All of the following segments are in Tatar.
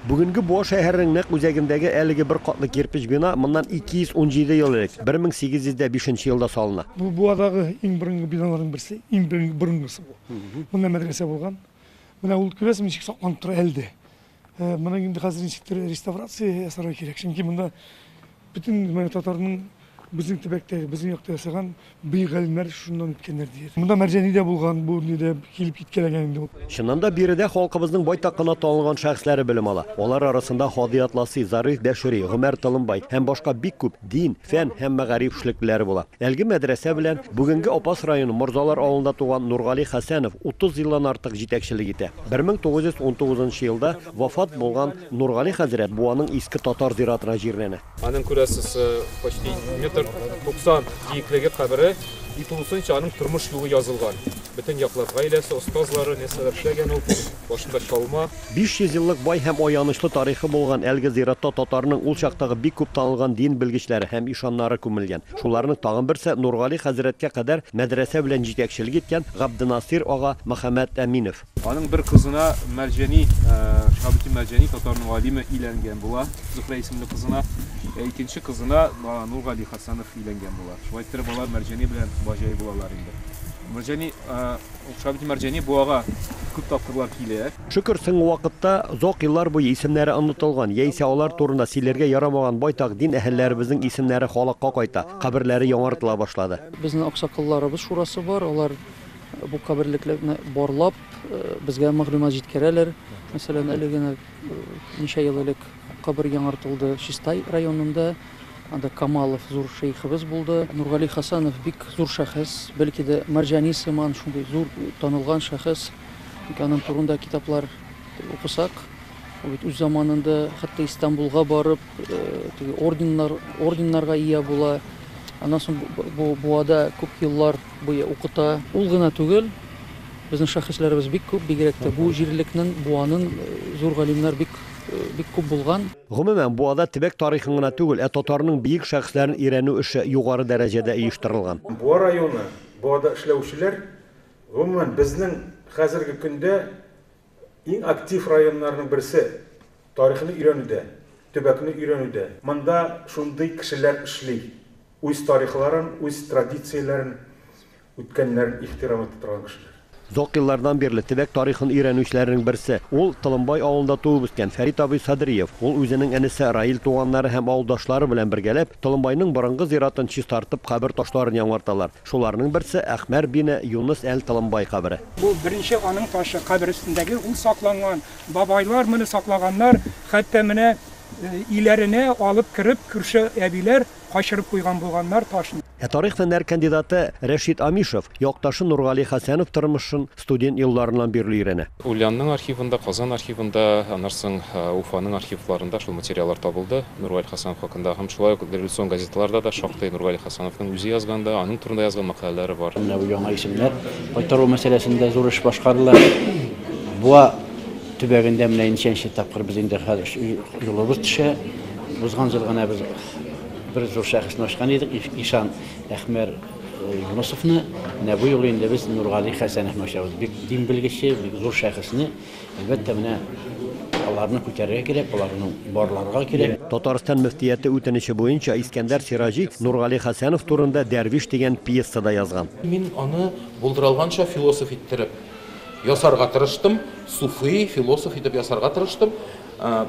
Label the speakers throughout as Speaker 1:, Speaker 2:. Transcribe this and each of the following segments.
Speaker 1: Бүгенге Буа шәһәренең нәкъ үзәгендәге әлеге бер катлы кирпеч бина моннан 217 ел элек, 1805 елда салына. Бу Буадагы
Speaker 2: иң борынгы биналарның берсе, иң борынгысы бу. Монда мәдрәсә булган. Менә ул, күрәсең, ничек сакланып тора әле дә. Моның инде хәзер ничектер реставрация ясарга кирәк, чөнки монда Бөтен менә татарның безнең төбәктәге, безнең якта ясаган бөек галимнәр шуннан үткәннәр, ди. Монда Мәрҗани дә булган, бу нидә килеп киткәләгән инде ул. Чыннан да, биредә
Speaker 1: халкыбызның байтак кына танылган шәхесләре белем ала. Алар арасында Һади Атласи, Зариф Бәшири, Гомәр Толымбай һәм башка бик күп дин, фән һәм мәгариф эшлеклеләре була. Әлеге мәдрәсә белән бүгенге Апас районы Морзалар авылында туган Нургали Хәсәнов 30 елдан артык җитәкчелек итә. 1919 елда вафат булган Нургали хәзрәт бу аның иске татар зиратына җирләнә. Аның күрәсез
Speaker 3: почти метр 90 биеклеге кабере и тулысынча аның тормыш юлы язылган. Бөтен яклап гаиләсе, остазлары, нәрсәләр эшләгән ул, башында чалма. 500 еллык бай
Speaker 1: һәм аянычлы тарихы булган әлеге зиратта татарның ул чактагы бик күп танылган дин белгечләре һәм ишаннары күмелгән. Шуларның тагын берсе Нургали хәзрәткә кадәр мәдрәсә белән җитәкчелек иткән Габденасыйр ага Мөхәммәтәминов. Аның бер кызына
Speaker 3: Мәрҗәни, Шаһабетдин Мәрҗәни татарның галиме иләнгән була, Зөхрә исемле кызына. Ә икенче кызына Нургали Хәсәнов иләнгән була. Шулай иттереп алар Мәрҗәни белән Баҗай булалар инде. Мәрҗәни, Шаһабетдин Мәрҗәни буага күп тапкырлар килә. Шөкер, соңгы вакытта
Speaker 1: озак еллар буе исемнәре онытылган, яисә алар турында сөйләргә ярамаган байтак дин әһелләребезнең исемнәре халыкка кайта, каберләре яңартыла башлады. Безнең аксакалларыбыз
Speaker 4: шурасы бар, алар. Бу каберлекләрне барлап, безгә мәгълүмат җиткерәләр. Мәсәлән, әле генә ничә ел элек кабер яңартылды Чистай районында. Анда Камалов зур шейхыбыз булды. Нургали Хасанов бик зур шәхес, бәлки дә Мәрҗани сыман шундый зур танылган шәхес. Ник аның турында китаплар укысак, ул бит үз заманында хәтта Истанбулга барып, теге орденнар, орденнарга ия була. Аннан соң бу буада күп еллар Буе укыта. Ул гына түгел, безнең шәхесләребез бик күп, бигрәк тә бу җирлекнен, Буанын зур галимнәр бик, бик күп булган. Гомумән, Буада
Speaker 1: төбәк тарихын гына түгел, ә татарның биек шәхесләрен өйрәнү эше югары дәрәҗәдә оештырылган. Буа районы,
Speaker 5: Буада эшләүчеләр, гомумән, безнең хәзерге көндә Иң актив районнарның берсе, тарихны өйрәнүдә, төбәкне өйрәнүдә. Монда шундый кешеләр эшли, үз тарихларын, үз традицияләрен, үткәннәрен ихтирам итә торган кешеләр. Озак еллардан
Speaker 1: бирле төбәк тарихын өйрәнүчеләрнең берсе, ул, Толымбай авылында туып үскән Фәрит абый Садриев. Ул үзенең энесе Раил туганнары һәм авылдашлары белән бергәләп, Толымбайның борынгы зиратын чистартып, кабер ташларын яңарталар. Шуларның берсе, Әхмәр бин Юныс әл-Толомбай кабере. Бу беренче аның
Speaker 6: ташы, кабер өстендәге, ул сакланган. Бабайлар моны саклаганнар, хәтта менә өйләренә алып кереп, күрше әбиләр качырып куйган булганнар ташны. Ә тарих-фәннәр
Speaker 1: кандидаты Рәшит Амишев якташы Нургали Хәсәнов тормышын, студент елларыннан бирле өйрәнә. Ульянның архивында,
Speaker 3: Казан архивында, аннан соң Уфаның архивларында шул материаллар табылды Нургали Хәсәнов хакында. Һәм шулай ук революцион газеталарда да шактый Нургали Хәсәновның үзе язган да, аның турында язган мәкаләләре бар. Менә бу яңа исемнәр
Speaker 7: кайтару мәсьәләсендә зур эш башкарыла. Буа төбәгендә менә ничәнче тапкыр без инде хәзер юлыбыз төшә. Узган ел гына без бер зур шәхесне ачкан идек, Ишан Әхмәр. Юнысовны менә бу юлы инде без Нургали Хәсәнов мәшәбез. Бик дин белгече, бик зур шәхесне, әлбәттә, менә аларны күтәрергә кирәк, аларны барларга кирәк. Татарстан мөфтияте
Speaker 1: үтенече буенча Искәндәр Сираҗи Нургали Хәсәнов турында Дәрвиш дигән пьеса да язган. Мин аны
Speaker 8: булдыралганча философ иттереп ясарга тырыштым, суфи, философ итеп ясарга тырыштым.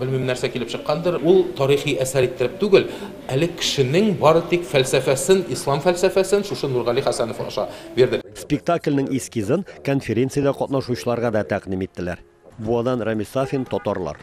Speaker 8: Белмим, нәрсә килеп чыккандыр, ул тарихи әсәр иттереп түгел, әле кешенең бары тик фәлсәфәсен, ислам фәлсәфәсен шушы Нургали Хәсәнов аша бирдек. Спектакльнең
Speaker 1: эскизын конференциядә катнашучыларга да тәкъдим иттеләр. Буадан Рәмис Сафин, Татарлар.